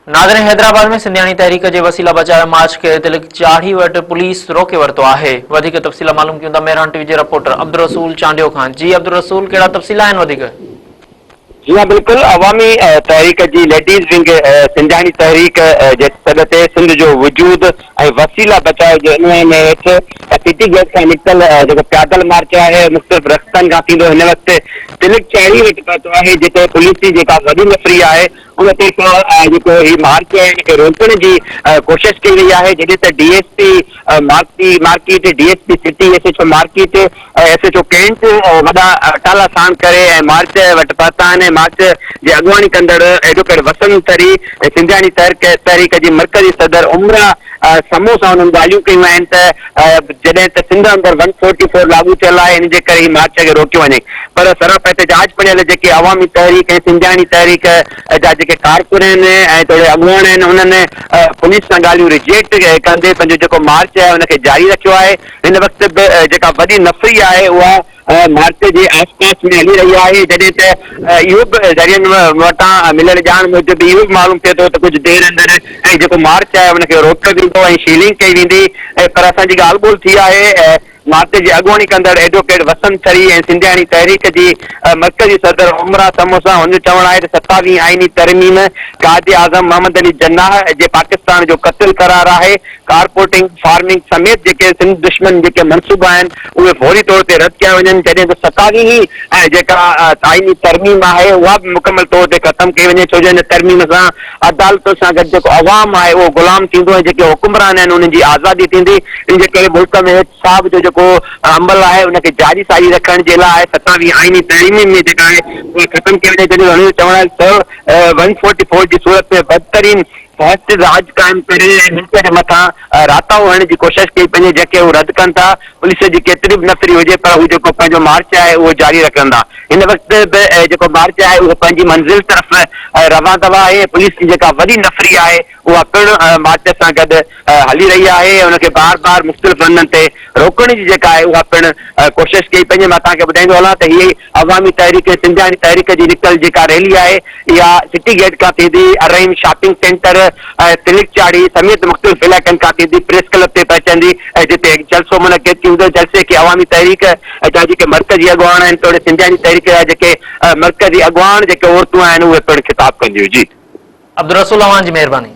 ناظرين حيدرآباد ۾ سنڌياڻي تحريڪ جي وسيلا بچايو مارچ کي تلڪ چاڙهي وٽ پوليس روڪي ورتو آهي وڌيڪ تفصيل معلوم ڪيون ٿا مهراڻ ٽي وي جي رپورٽر عبدالرسول چانڊيو کان جي عبدالرسول ڪهڙا تفصيل آهن وڌيڪ جي ها بلڪل عوامي تحريڪ جي ليڊيز ونگ سنڌياڻي تحريڪ جي سڏ تي سنڌ جو وجود ۽ وسيلا بچاء جي عنوان هيٺ سٽي گيٽ کان نڪتل جيڪو پيادل مارچ آهي مختلف رستن کان ٿيندو هن وقت سلڪ چهڙي وٽ پهتو آهي جتي پوليس جي جيڪا وڏي نفري آهي ان طرفان جيڪو هي مارچ آهي ان کي روڪڻ جي ڪوشش ڪئي وئي آهي جڏهن ته D S P market D S P city S H O market S H O cantt وڏا اٽالا ساڻ ڪري ۽ مارچ وٽ پهتا آهن ۽ مارچ جي اڳواڻي ڪندڙ ايڊووڪيٽ وسند تري ۽ سنڌياڻي تحريڪ جي مرڪزي صدر عمرا سمون سان انهن ڳالهيون ڪيون آهن ته جڏهن ته سنڌ اندر ون فورٽي فور لاڳو ٿيل آهي ان جي ڪري هي مارچ کي روڪيو وڃي پر سراپ احتجاج پڙهيل جيڪي عوامي تحريڪ ۽ سنڌياڻي تحريڪ جا جيڪي ڪارڪن آهن ۽ توڙي اڳواڻ آهن انهن پوليس سان ڳالهيون رجيڪٽ ڪندي پنهنجو جيڪو مارچ آهي ان کي جاري رکيو آهي. هن وقت به جيڪا وڏي نفري آهي اها مارچ جي آس پاس ۾ هلي رهي آهي جڏهن ته اهو به ذريعن وٽان مليل ڄاڻ موجب اهو به معلوم ٿئي ٿو ته ڪجهه دير اندر هي جيڪو مارچ آهي ان کي روڪيو ويندو ۽ شيلنگ ڪئي ويندي پر اسان جي ڳالهه ٻولهه ٿي آهي مارچ جي اڳواڻي ڪندڙ ايڊووڪيٽ وسند ڇري ۽ سنڌياڻي تحريڪ جي مرڪزي صدر عمرا سمون سان هن جو چوڻ آهي ته ستاويهين آئيني ترميم قائد اعظم محمد علي جناح جي پاڪستان جو قتل قرار آهي ڪارپورٽنگ، فارمنگ سميت جيڪي سنڌ دشمن جيڪي منصوبا آهن اهي فوري طور تي رد ڪيا وڃن جڏهن ته ستاويهين ۽ جيڪا آئيني ترميم آهي اها به مڪمل طور تي ختم ڪئي وڃي ڇو جو ان ترميم سان عدالتن سان گڏ جيڪو عوام آهي اهو غلام ٿيندو ۽ جيڪي حڪمران آهن انهن جي آزادي ٿيندي ان جي ڪري ملڪ ۾ احتساب جو جيڪو عمل آهي ان کي جاري ساري رکڻ جي لاء ستاويهين آئيني ترميم ۾ جيڪا آهي اها ختم ڪئي وڃي جڏهن ته انهن جو چوڻ آهي ته سؤ چوڏهن جي صورت ۾ بدترين فاسٽ راڄ قائم ڪري ۽ ملڪ جي مٿان راتاهو هڻڻ جي ڪوشش ڪئي، پنهنجي جهڪي هو رد ڪن ٿا، پوليس جي ڪيتري به نفري هجي پر هو جيڪو پنهنجو مارچ آهي اهو جاري رکندا، هن وقت به جيڪو مارچ آهي اهو پنهنجي منزل طرف روان دوا آهي ۽ پوليس جي جيڪا وڏي نفري آهي اها پڻ مارچ سان گڏ هلي رهي آهي ۽ ان کي بار بار مختلف هنڌن تي روڪڻ جي جيڪا آهي اها پڻ ڪوشش ڪئي، پنهنجي مان توهان کي ٻڌائيندو هلان ته هي عوامي تحريڪ سنڌياڻي تحريڪ جي نڪتل جيڪا ريلي آهي اها سٽي گيٽ کان ٿيندي الرحيم شاپنگ سينٽر ۽ سلڪ چاڙهي سميت مختلف علائقن کان ٿيندي پريس ڪلب تي پهچندي ۽ جتي هڪ جلسو منعقد ٿيندو جلسي کي عوامي تحريڪ جا جيڪي مرڪزي اڳواڻ آهن توڙي سنڌياڻي تحريڪ جا جيڪي مرڪزي اڳواڻ جيڪي عورتون آهن اهي پڻ خطاب ڪنديون جي. عبدالرسول اوهان جي مهرباني.